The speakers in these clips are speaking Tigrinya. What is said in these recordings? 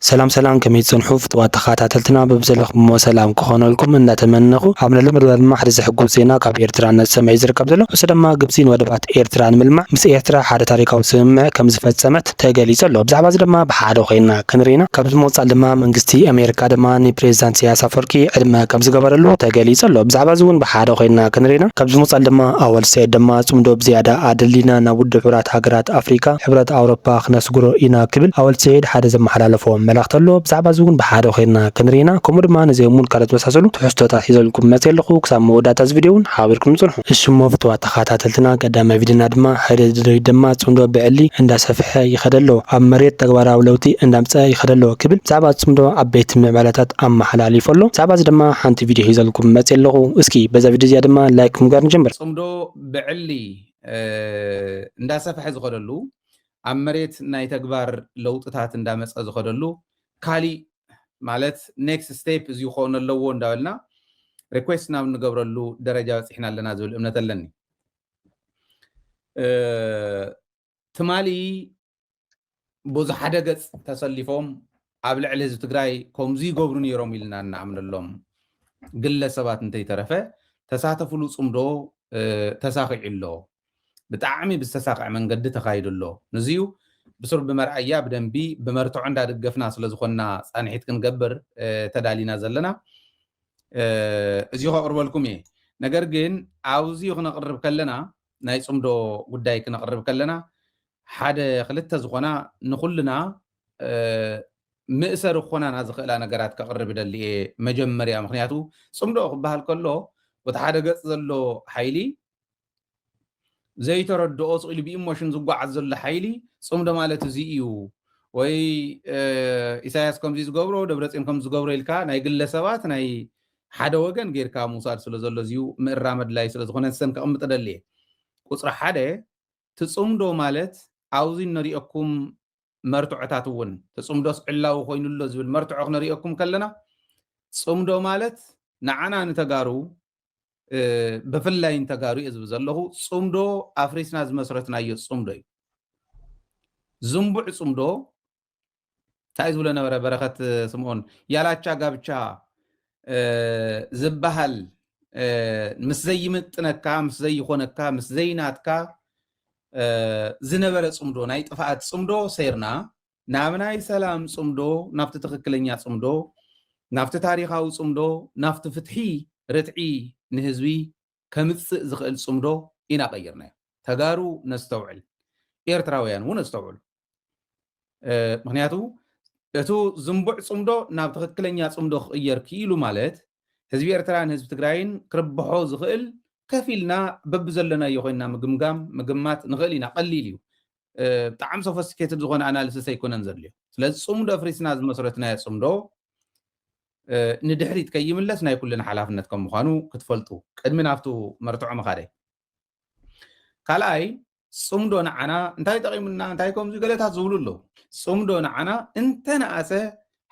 ሰላም ሰላም ከመይ ትጸንሑ ፍትዋት ተኻታተልትና በብዘለኽሞ ሰላም ክኾነልኩም እንዳተመነኹ ኣብ ነሎ መደብ ድማ ሓደ ዘሕጉስ ዜና ካብ ኤርትራ እናተሰምዐ እዩ ዝርከብ ዘሎ ንሱ ድማ ግብጺ ንወደባት ኤርትራ ንምልማዕ ምስ ኤርትራ ሓደ ታሪካዊ ስምምዕ ከምዝፈጸመት ተገሊጹ ኣሎ ብዛዕባ እዚ ድማ ብሓደ ኮይና ክንርኢ ኢና ካብዚ ምቕጻል ድማ መንግስቲ ኣሜሪካ ድማ ንፕሬዝዳንት ኢሳያስ ኣፈወርቂ ዕድመ ከምዝገበረሉ ተገሊጹ ኣሎ ብዛዕባ እዚ እውን ብሓደ ኮይና ክንርኢ ኢና ካብዚ ምቕጻል ድማ ኣወል ሰዒድ ድማ ጽምዶ ብዝያዳ ኣደሊና ናብ ውድብ ሕቡራት ሃገራት ሕብረት ኣፍሪቃ፣ ሕብረት ኣውሮፓ ክነስግሮ ኢና ክብል ኣወል ስዒድ ሓደ ዘመሓላለፎ መልእኽቲ ኣሎ። ብዛዕባ እዚ እውን ብሓደ ኮይንና ክንርኢና ከምኡ ድማ ነዚኦም እውን ካልኦት ዝመሳሰሉ ትሕዝቶታት ሒዘልኩም መጺኤ ኣለኹ። ክሳብ መወዳእታ እዚ ቪድዮ እውን ሓቢርኩምኒ ጽንሑ። እሽ'ሞ ፍቱዋት ተኸታተልትና ቀዳማይ ቪድዮና ድማ ሓደ ድርድሪት ድማ ጽምዶ ብዕሊ እንዳሰፍሐ ይኸድ ኣሎ፣ ኣብ መሬት ተግባራዊ ለውጢ እንዳምጸኣ ይኸድ ኣሎ ክብል ብዛዕባ እቲ ጽምዶ ዓበይቲ ምዕባለታት ኣመሓላሊፉ ኣሎ። ብዛዕባ እዚ ድማ ሓንቲ ቪድዮ ሒዘልኩም መጺኤ ኣለኹ። እስኪ በዛ ቪድዮ እዚኣ ድማ ላይክ ብምግባር ንጀምር። ጽምዶ ብዕሊ እንዳሰፈሐ ዝኸደሉ ኣብ መሬት ናይ ተግባር ለውጥታት እንዳመፀ ዝኸደሉ ካሊእ ማለት ኔክስት ስቴፕ እዚ ክኾን ኣለዎ እንዳበልና ሪኩዌስት ናብ እንገብረሉ ደረጃ በፂሕና ኣለና ዝብል እምነት ኣለኒ ትማሊ ብዙ ሓደ ገፅ ተሰሊፎም ኣብ ልዕሊ ህዝቢ ትግራይ ከምዚ ይገብሩ ነይሮም ኢልና እናኣምነሎም ግለሰባት እንተይተረፈ ተሳተፍሉ ፅምዶ ተሳኺዑ ኣሎ ብጣዕሚ ብዝተሳክዐ መንገዲ ተኻይዱ ኣሎ ንዚዩ ብስሩ ብመርኣያ ብደንቢ ብመርትዖ እንዳደገፍና ስለዝኾንና ፃንሒት ክንገብር ተዳሊና ዘለና እዚ ከቕርበልኩም እየ ነገር ግን ኣብዚ ክነቕርብ ከለና ናይ ፅምዶ ጉዳይ ክነቕርብ ከለና ሓደ ክልተ ዝኾና ንኹልና ምእሰሪ ክኾናና ዝኽእላ ነገራት ከቕርብ እደሊ እየ። መጀመርያ ምኽንያቱ ጽምዶ ክበሃል ከሎ በቲ ሓደ ገጽ ዘሎ ሓይሊ ዘይተረድኦ ስቕ ኢሉ ብኢሞሽን ዝጓዓዝ ዘሎ ሓይሊ ጽምዶ ማለት እዚ እዩ ወይ ኢሳያስ ከምዚ ዝገብሮ ደብረጽዮን ከምዚ ዝገብሮ ኢልካ ናይ ግለ ሰባት ናይ ሓደ ወገን ጌርካ ምውሳድ ስለ ዘሎ እዚዩ ምእራም ኣድላይ ስለ ዝኾነ ንሰን ከቕምጥ እደሊ እየ። ቁጽሪ ሓደ ትጽምዶ ማለት ኣብ'ዚ እነርእየኩም መርትዖታት እውን፣ ትጽምዶስ ዕላዊ ኮይኑ ኣሎ ዝብል መርትዖ ክነርእየኩም ከለና፣ ጽምዶ ማለት ንዓና ንተጋሩ፣ ብፍላይ ንተጋሩ እየ ዝብል ዘለኹ፣ ጽምዶ ኣፍሪስና ዝመስረትናዮ ጽምዶ እዩ። ዝንቡዕ ጽምዶ ታይ ዝብሎ ነበረ በረኸት ስምኦን ያላቻ ጋብቻ ዝበሃል ምስ ዘይምጥነካ ምስ ዘይኾነካ ምስ ዘይናትካ ዝነበረ ፅምዶ ናይ ጥፍኣት ፅምዶ ሰይርና ናብ ናይ ሰላም ፅምዶ ናብቲ ትኽክለኛ ፅምዶ ናብቲ ታሪኻዊ ፅምዶ ናብቲ ፍትሒ ርትዒ ንህዝቢ ከምፅእ ዝኽእል ፅምዶ ኢና ቀይርናዮ ተጋሩ ነስተውዕል ኤርትራውያን እውን ኣስተውዕሉ ምክንያቱ እቱ ዝንቡዕ ፅምዶ ናብ ትኽክለኛ ፅምዶ ክቕየር ክኢሉ ማለት ህዝቢ ኤርትራን ህዝቢ ትግራይን ክርብሖ ዝኽእል ከፍ ኢልና በብዘለናዮ ኮይንና ምግምጋም ምግማት ንኽእል ኢና ቀሊል እዩ ብጣዕሚ ሶፈስቲኬትድ ዝኾነ ኣናሊሲስ ኣይኮነን ዘድልዮ ስለዚ ፅምዶ ኣፍሪስና ዝመስረትናዮ ፅምዶ ንድሕሪት ከይምለስ ናይ ኩልና ሓላፍነት ከም ምዃኑ ክትፈልጡ ቅድሚ ናብቱ መርትዖ ምኻደይ ካልኣይ ፅምዶ ንዓና እንታይ ጠቒሙና እንታይ ከምዚ ገለታት ዝብሉ ኣለዉ ፅምዶ ንዓና እንተነኣሰ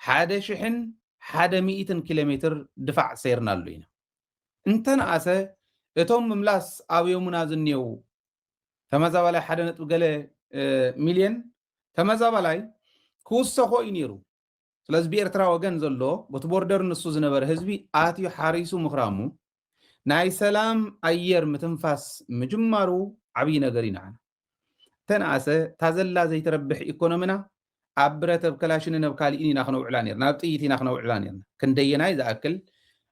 ሓደ ሽሕን ሓደ ሚእትን ኪሎ ሜትር ድፋዕ ሰይርናሉ ኢና እንተነኣሰ እቶም ምምላስ ኣብዮሙና ዝንየው ተመዛባላይ ሓደ ነጥቢ ገለ ሚልየን ተመዛባላይ ክውሰኾ እዩ ነይሩ ስለዚ ብኤርትራ ወገን ዘሎ ቦቲ ቦርደር ንሱ ዝነበረ ህዝቢ ኣትዩ ሓሪሱ ምኽራሙ ናይ ሰላም ኣየር ምትንፋስ ምጅማሩ ዓብዪ ነገር እዩ ንዓና ተነኣሰ ታዘላ ዘይትረብሕ ኢኮኖሚና ኣብ ብረተብ ከላሽንን ኣብ ካልእን ኢና ክነውዕላ ነርና ኣብ ጥይት ኢና ክነውዕላ ነርና ክንደየናይ ዝኣክል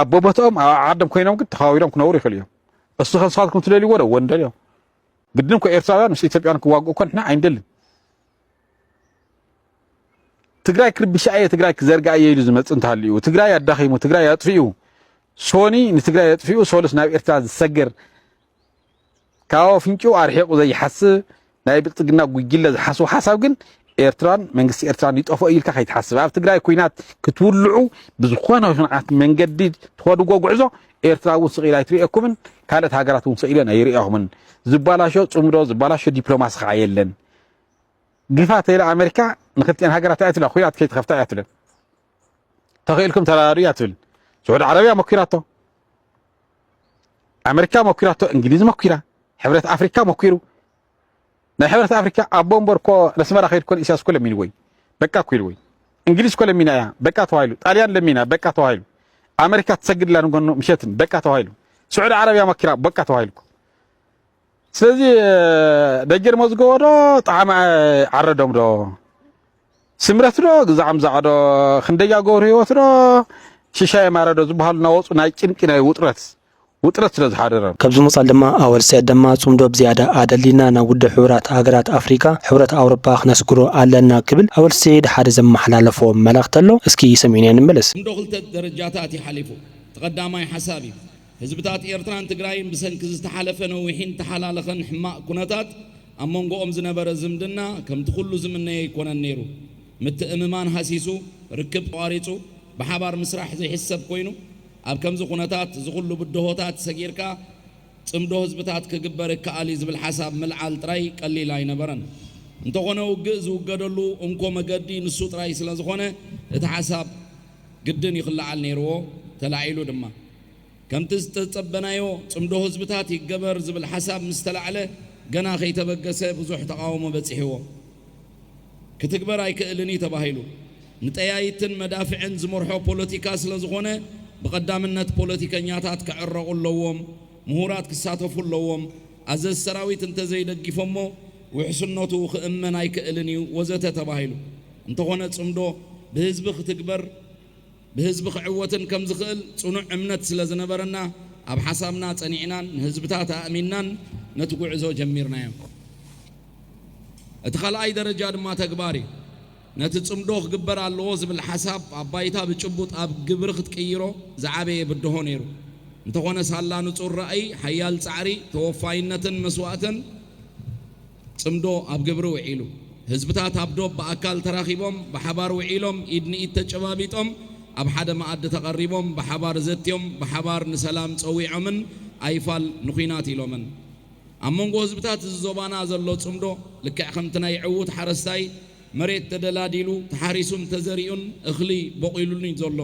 ኣብ ቦቦትኦም ኣብ ዓዓዶም ኮይኖም ግን ተኸባቢሮም ክነብሩ ይኽእሉ እዮም። እሱ ከም ንስኻትኩም ትደልይዎ ዶ ወንደልዮ ግድን እኮ ኤርትራውያን ምስ ኢትዮጵያን ክዋግኡ እኮ ንሕና ኣይንደልን። ትግራይ ክርብሻ እየ ትግራይ ክዘርጋ እየ ኢሉ ዝመጽእ እንተሃልዩ ትግራይ ኣዳኺሙ ትግራይ ኣጥፊኡ ሶኒ ንትግራይ ኣጥፊኡ ሶሉስ ናብ ኤርትራ ዝሰገር ካብ ኣፍንጭኡ ኣርሒቑ ዘይሓስብ ናይ ብልጽግና ጉጅለ ዝሓስቦ ሓሳብ ግን ኤርትራን መንግስቲ ኤርትራን ይጠፍኦ ኢልካ ከይትሓስብ ኣብ ትግራይ ኩናት ክትውልዑ ብዝኾነ ይኹንዓት መንገዲ ትኸድጎ ጉዕዞ ኤርትራ እውን ስቕ ኢላ ኣይትርእየኩምን ካልኦት ሃገራት እውን ስቕ ኢለን ኣይርእኹምን ዝባላሾ ጽምዶ ዝባላሾ ዲፕሎማሲ ከዓ የለን ግፋ ተይላ ኣሜሪካ ንክልቲኤን ሃገራት እያ ትብላ ኩናት ከይትኸፍታ እያ ትብለን ተኽኢልኩም ተራዳዱ እያ ትብል ስዑድ ዓረብያ መኪራቶ ኣመሪካ መኪራቶ፣ እንግሊዝ መኪራ፣ ሕብረት ኣፍሪካ መኪሩ። ናይ ሕብረት ኣፍሪካ ኣቦ እምበር እኮ ነስመራ ከይድ ኮን ኢሳያስ እኮ ለሚንዎ እዩ በቃ እኮ ኢልዎ እዩ። እንግሊዝ እኮ ለሚና እያ በቃ ተባሂሉ። ጣልያን ለሚና በቃ ተባሂሉ። ኣመሪካ ትሰግድላ ንጎኑ ምሸትን በቃ ተባሂሉ። ስዑዲ ዓረብያ መኪራ በቃ ተባሂሉ። ስለዚ ደጀን መዝገቦ ዶ ጣዕመ ዓረዶም ዶ ስምረት ዶ ግዛዕም ዛዕዶ ክንደያ ገብሩ ህይወት ዶ ሽሻየ ማረ ዶ ዝበሃሉ እናወፁ ናይ ጭንቂ ናይ ውጥረት ውጥረት ስለ ዝሓደሮም። ካብዚ ምቕጻል ድማ ኣወል ስዒድ ደማ ጽምዶ ብዝያዳ ኣደልዲልና ናብ ውድብ ሕቡራት ሃገራት ኣፍሪቃ፣ ሕብረት ኣውሮጳ፣ ክነስግሮ ኣለና ክብል ኣወል ስዒድ ሓደ ዘመሓላለፎ መልእኽቲ ኣሎ። እስኪ ሰሚዕናዮ ንመለስ። እንዶ ክልተ ደረጃታት እዩ ሓሊፉ። እቲ ቀዳማይ ሓሳብ እዩ። ህዝብታት ኤርትራን ትግራይን ብሰንኪ ዝተሓለፈ ነዊሒን ተሓላለኸን ሕማቕ ኩነታት ኣብ መንጎኦም ዝነበረ ዝምድና ከምቲ ኩሉ ዝምነዮ ኣይኮነን ነይሩ። ምትእምማን ሃሲሱ፣ ርክብ ተቋሪጹ፣ ብሓባር ምስራሕ ዘይሕሰብ ኮይኑ፣ ኣብ ከምዚ ኩነታት እዚ ኩሉ ብድሆታት ሰጊርካ ጽምዶ ህዝብታት ክግበር ይከኣል እዩ ዝብል ሓሳብ ምልዓል ጥራይ ቀሊል ኣይነበረን። እንተኾነ ውግእ ዝውገደሉ እንኮ መገዲ ንሱ ጥራይ ስለዝኾነ እቲ ሓሳብ ግድን ይኽለዓል ነይርዎ፣ ተላዒሉ ድማ። ከምቲ ዝተጸበናዮ ጽምዶ ህዝብታት ይገበር ዝብል ሓሳብ ምስ ተላዕለ ገና ከይተበገሰ ብዙሕ ተቓውሞ በጺሕዎ ክትግበር ኣይክእልን እዩ ተባሂሉ። ንጠያይትን መዳፍዕን ዝመርሖ ፖለቲካ ስለ ዝኾነ ብቐዳምነት ፖለቲከኛታት ክዕረቑ ኣለዎም፣ ምሁራት ክሳተፉ ኣለዎም፣ ኣዘዝ ሰራዊት እንተዘይደጊፎሞ ውሕስነቱ ክእመን ኣይክእልን እዩ ወዘተ ተባሂሉ። እንተኾነ ጽምዶ ብህዝቢ ክትግበር። ብህዝቢ ክዕወትን ከም ዝኽእል ጽኑዕ እምነት ስለ ዝነበረና፣ ኣብ ሓሳብና ጸኒዕናን ንህዝብታት ኣእሚንናን ነቲ ጉዕዞ ጀሚርናዮ። እቲ ካልኣይ ደረጃ ድማ ተግባር እዩ። ነቲ ጽምዶ ክግበር ኣለዎ ዝብል ሓሳብ ኣብ ባይታ ብጭቡጥ ኣብ ግብሪ ክትቅይሮ ዝዓበየ ብድሆ ነይሩ። እንተኾነ ሳላ ንጹር ራእይ፣ ሓያል ጻዕሪ፣ ተወፋይነትን መስዋእትን፣ ጽምዶ ኣብ ግብሪ ውዒሉ። ህዝብታት ኣብ ዶብ ብኣካል ተራኺቦም ብሓባር ውዒሎም፣ ኢድ ንኢድ ተጨባቢጦም፣ ኣብ ሓደ መኣዲ ተቐሪቦም፣ ብሓባር ዘትዮም፣ ብሓባር ንሰላም ጸዊዖምን ኣይፋል ንኲናት ኢሎምን። ኣብ መንጎ ህዝብታት እዚ ዞባና ዘሎ ጽምዶ ልክዕ ከምቲ ናይ ዕዉት ሓረስታይ መሬት ተደላዲሉ፣ ተሓሪሱን ተዘሪኡን እኽሊ ቦቒሉሉ'ዩ ዘሎ።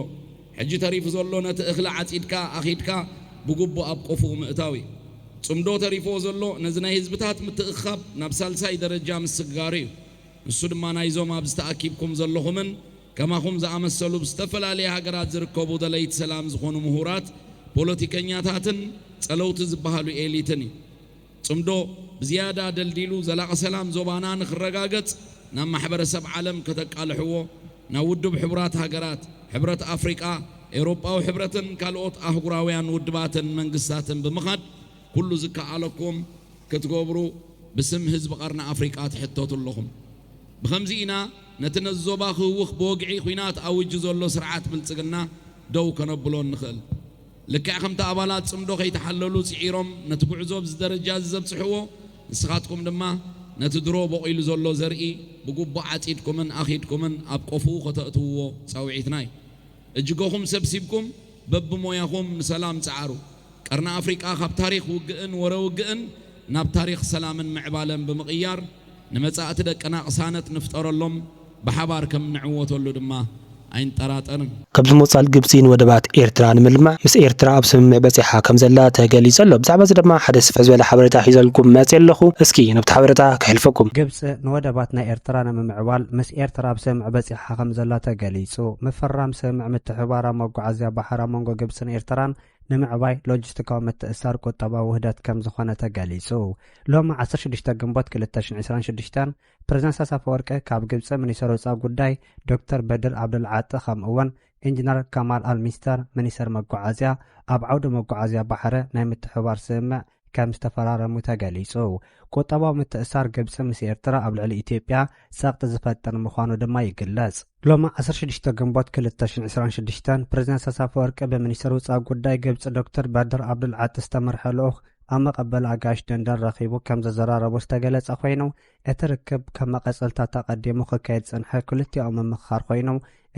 ሕጂ ተሪፉ ዘሎ ነቲ እኽሊ ዓጺድካ ኣኺድካ ብጉቡእ ኣብ ቆፎኡ ምእታው እዩ። ጽምዶ ተሪፍዎ ዘሎ ነዚ ናይ ህዝብታት ምትእኽኻብ ናብ ሳልሳይ ደረጃ ምስግጋሩ እዩ። ንሱ ድማ ናይዞም ኣብዚ ተኣኪብኩም ዘለኹምን ከማኹም ዝኣመሰሉ ብ ዝተፈላለየ ሃገራት ዝርከቡ ደለይቲ ሰላም ዝኾኑ ምሁራት፣ ፖለቲከኛታትን ጸለውቲ ዝበሃሉ ኤሊትን እዩ። ጽምዶ ብዝያዳ ደልዲሉ ዘላቒ ሰላም ዞባና ንክረጋገጽ ናብ ማሕበረሰብ ዓለም ከተቃልሕዎ፣ ናብ ውድብ ሕቡራት ሃገራት፣ ሕብረት ኣፍሪቃ፣ ኤውሮጳዊ ሕብረትን ካልኦት ኣህጉራውያን ውድባትን መንግስታትን ብምኻድ ኩሉ ዝከኣለኩም ክትገብሩ ብስም ህዝቢ ቀርኒ ኣፍሪቃ ትሕተቱ ኣለኹም። ብኸምዚ ኢና ነቲ ነዚ ዞባ ክህውኽ ብወግዒ ኲናት ኣዊጁ ዘሎ ስርዓት ብልጽግና ደው ከነብሎ እንኽእል። ልክዕ ከምቲ ኣባላት ጽምዶ ከይተሓለሉ ጽዒሮም ነቲ ጉዕዞ ኣብዚ ደረጃ እዚ ዘብጽሕዎ፣ ንስኻትኩም ድማ ነቲ ድሮ ቦቒሉ ዘሎ ዘርኢ ብግቡእ ዓጺድኩምን ኣኺድኩምን ኣብ ቆፍኡ ከተእትውዎ ጻውዒትና እዩ። እጅገኹም ሰብሲብኩም በብሞያኹም ንሰላም ጽዓሩ። ቀርኒ ኣፍሪቃ ካብ ታሪኽ ውግእን ወረ ውግእን ናብ ታሪኽ ሰላምን ምዕባለን ብምቕያር፣ ንመጻእቲ ደቅና ቅሳነት ንፍጠረሎም፣ ብሓባር ከም እንዕወተሉ ድማ ኣይንጠራጠርን። ካብዚ ምቕጻል ግብጺ ንወደባት ኤርትራ ንምልማዕ ምስ ኤርትራ ኣብ ስምምዕ በጺሓ ከም ዘላ ተገሊጹ ኣሎ። ብዛዕባ እዚ ድማ ሓደ ስፍሕ ዝበለ ሓበሬታ ሒዘልኩም መጺ ኣለኹ። እስኪ ነብቲ ሓበረታ ከሕልፈኩም። ግብጺ ንወደባት ናይ ኤርትራ ንምምዕባል ምስ ኤርትራ ኣብ ስምምዕ በጺሓ ከም ዘላ ተገሊጹ። ምፍራም ስምምዕ ምትሕብባር ኣብ መጓዓዝያ ባሕር ኣብ መንጎ ግብጽን ኤርትራን፣ ንምዕባይ ሎጂስቲካዊ ምትእስሳር ቁጠባዊ ውህደት ከምዝኾነ ተገሊፁ። ሎሚ ዓሰርተ ሽዱሽተ ግንቦት ክልተ ሽሕን ዕስራን ሽዱሽተን ፕረዚደንት ኢሳያስ ኣፈወርቂ ካብ ግብፂ ሚኒስተር ወፃኢ ጉዳይ ዶክተር በድር ዓብደልዓጢ ከምኡ'ውን ኢንጂነር ከማል ኣልሚስተር ሚኒስተር መጓዓዝያ ኣብ ዓውዲ መጓዓዝያ ባሕሪ ናይ ምትሕብባር ስምምዕ ከም ዝተፈራረሙ ተገሊጹ። ቁጠባዊ ምትእስሳር ግብጺ ምስ ኤርትራ ኣብ ልዕሊ ኢትዮጵያ ጸቕጢ ዝፈጥር ምዃኑ ድማ ይግለጽ። ሎሚ ዓሰርተ ሽዱሽተ ግንቦት ክልተ ሽሕን ዕስራን ሽዱሽተን፣ ፕረዚደንት ኢሳያስ ኣፈወርቂ ብሚኒስተር ውጻኢ ጉዳይ ግብጺ ዶክተር በድር ዓብዱልዓጢ ዝተመርሐ ልኡኽ ኣብ መቐበሊ ኣጋይሽ ደንደን ረኺቡ ከም ዘዘራረቦ ዝተገለጸ ኮይኑ፣ እቲ ርክብ ከም መቐጸልታ ተቐዲሙ ክካየድ ዝጸንሐ ክልቲኣዊ ምምኽኻር ኮይኑ፣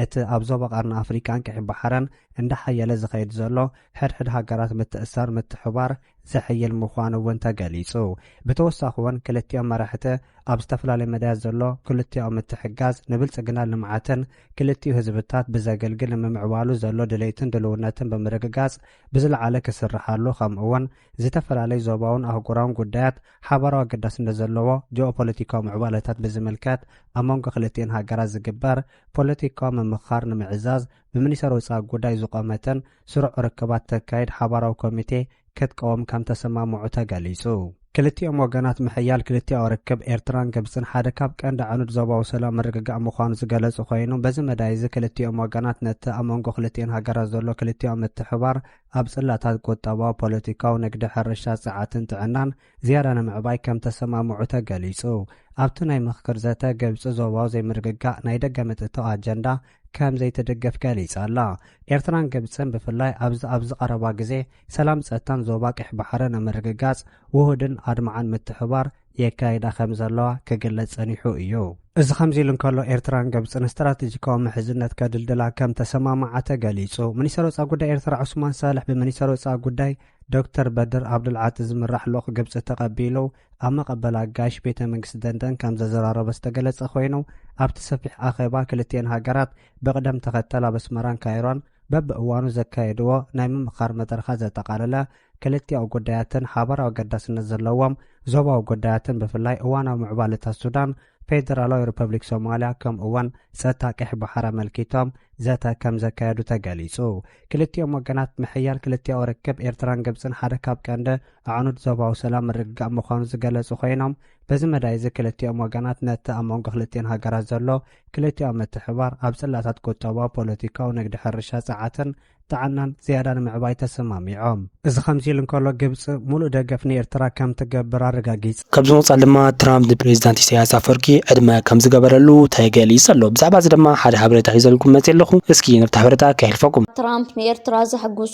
እቲ ኣብ ዞባ ቀርኒ ኣፍሪቃን ቀይሕ ባሕርን እንዳሓየለ ዝኸይድ ዘሎ ሕድሕድ ሃገራት ምትእስሳር ምትሕብባር ዘሕይል ምዃኑ'ውን ተገሊጹ። ብተወሳኺ'ውን ክልቲኦም መራሕቲ ኣብ ዝተፈላለዩ መዳያት ዘሎ ክልቲኣዊ ምትሕግጋዝ ንብልጽግናን ልምዓትን ክልቲኡ ህዝብታት ብዘገልግል ንምምዕባሉ ዘሎ ድሌትን ድልውነትን ብምርግጋጽ ብዝለዓለ ክስርሓሉ ከምኡ'ውን ዝተፈላለዩ ዞባውን ኣህጉራውን ጉዳያት ሓባራዊ ኣገዳስነት ዘለዎ ጂኦፖለቲካዊ ምዕባለታት ብዝምልከት ኣብ መንጎ ክልቲኤን ሃገራት ዝግበር ፖለቲካዊ ምምኽኻር ንምዕዛዝ ብሚኒሰር ወፃኢ ጉዳይ ዝቖመትን ስሩዕ ርክባት ተካይድ ሓባራዊ ኮሚቴ ክትቀውም ከምተሰማምዑ ተገሊፁ። ክልቲኦም ወገናት ምሕያል ክልቲኣዊ ርክብ ኤርትራን ግብፅን ሓደ ካብ ቀንዲ ኣዕኑድ ዞባዊ ሰላም ምርግጋእ ምዃኑ ዝገለፁ ኮይኑ በዚ መዳይ እዚ ክልቲኦም ወገናት ነቲ ኣብ መንጎ ክልቲኤን ሃገራት ዘሎ ክልቲኣዊ ምትሕብባር ኣብ ጽላታት ቁጠባዊ፣ ፖለቲካዊ፣ ንግዲ፣ ሕርሻ፣ ጸዓትን ጥዕናን ዝያዳ ንምዕባይ ከም ተሰማምዑ ተገሊጹ። ኣብቲ ናይ ምኽክር ዘተ፣ ግብጺ ዞባዊ ዘይምርግጋእ ናይ ደገ ምትእትታው ኣጀንዳ ከም ዘይትድግፍ ገሊጻ ኣላ። ኤርትራን ግብጽን ብፍላይ ኣብዚ ኣብዚ ቀረባ ግዜ ሰላምን ጸጥታን ዞባ ቀይሕ ባሕሪ ንምርግጋጽ ውሁድን ኣድማዕን ምትሕብባር የካይዳ ከም ዘለዋ ክግለጽ ጸኒሑ እዩ። እዚ ከምዚ ኢሉ እንከሎ፣ ኤርትራን ግብጽን ስትራተጂካዊ ምሕዝነት ከድልድላ ከም ተሰማምዓ ተገሊጹ። ሚኒስተር ወጻኢ ጉዳይ ኤርትራ ዑስማን ሳልሕ ብሚኒስተር ወጻኢ ጉዳይ ዶክተር በድር ዓብዱልዓጢ ዝምራሕ ልኡኽ ግብጺ ተቐቢሉ ኣብ መቐበል ኣጋይሽ ቤተ መንግስቲ ደንደን ከም ዘዘራረቦ ዝተገለጸ ኮይኑ ኣብቲ ሰፊሕ ኣኼባ ክልቲኤን ሃገራት ብቕደም ተኸተል ኣብ ኣስመራን ካይሮን በብእዋኑ ዘካየድዎ ናይ ምምኻር መድረኻት ዘጠቓለለ ክልቲኣዊ ጉዳያትን ሓባራዊ ኣገዳስነት ዘለዎም ዞባዊ ጉዳያትን ብፍላይ እዋናዊ ምዕባለታት ሱዳን፣ ፌደራላዊ ሪፐብሊክ ሶማልያ ከምኡ'ውን ጸጥታ ቀይሕ ባሕሪ ኣመልኪቶም ዘተ ከም ዘካየዱ ተገሊጹ። ክልቲኦም ወገናት ምሕያል ክልቲኣዊ ርክብ ኤርትራን ግብጽን ሓደ ካብ ቀንዲ ኣዕኑድ ዞባዊ ሰላም ምርግጋእ ምዃኑ ዝገለጹ ኮይኖም በዚ መዳይ'ዚ ክልቲኦም ወገናት ነቲ ኣብ መንጎ ክልቲኤን ሃገራት ዘሎ ክልቲኦም ምትሕብባር ኣብ ጽላታት ቁጠባ፣ ፖለቲካዊ፣ ንግዲ፣ ሕርሻ፣ ጸዓትን ጥዕናን ዝያዳ ንምዕባይ ተሰማሚዖም። እዚ ከምዚ'ሉ እንከሎ፣ ግብጺ ሙሉእ ደገፍ ንኤርትራ ከምትገብር ኣረጋጊጻ። ካብዚ ምቕጻል ድማ ትራምፕ ንፕሬዚዳንት ኢሳይያስ ኣፍወርቂ ዕድመ ከምዝገበረሉ ተገሊጹ ኣሎ። ብዛዕባ እዚ ድማ ሓደ ሓበሬታ ሒዘልኩም መጺኤ ኣለኹ። እስኪ ነብቲ ሓበሬታ ከሕልፈኩም። ትራምፕ ንኤርትራ ዘሕጉስ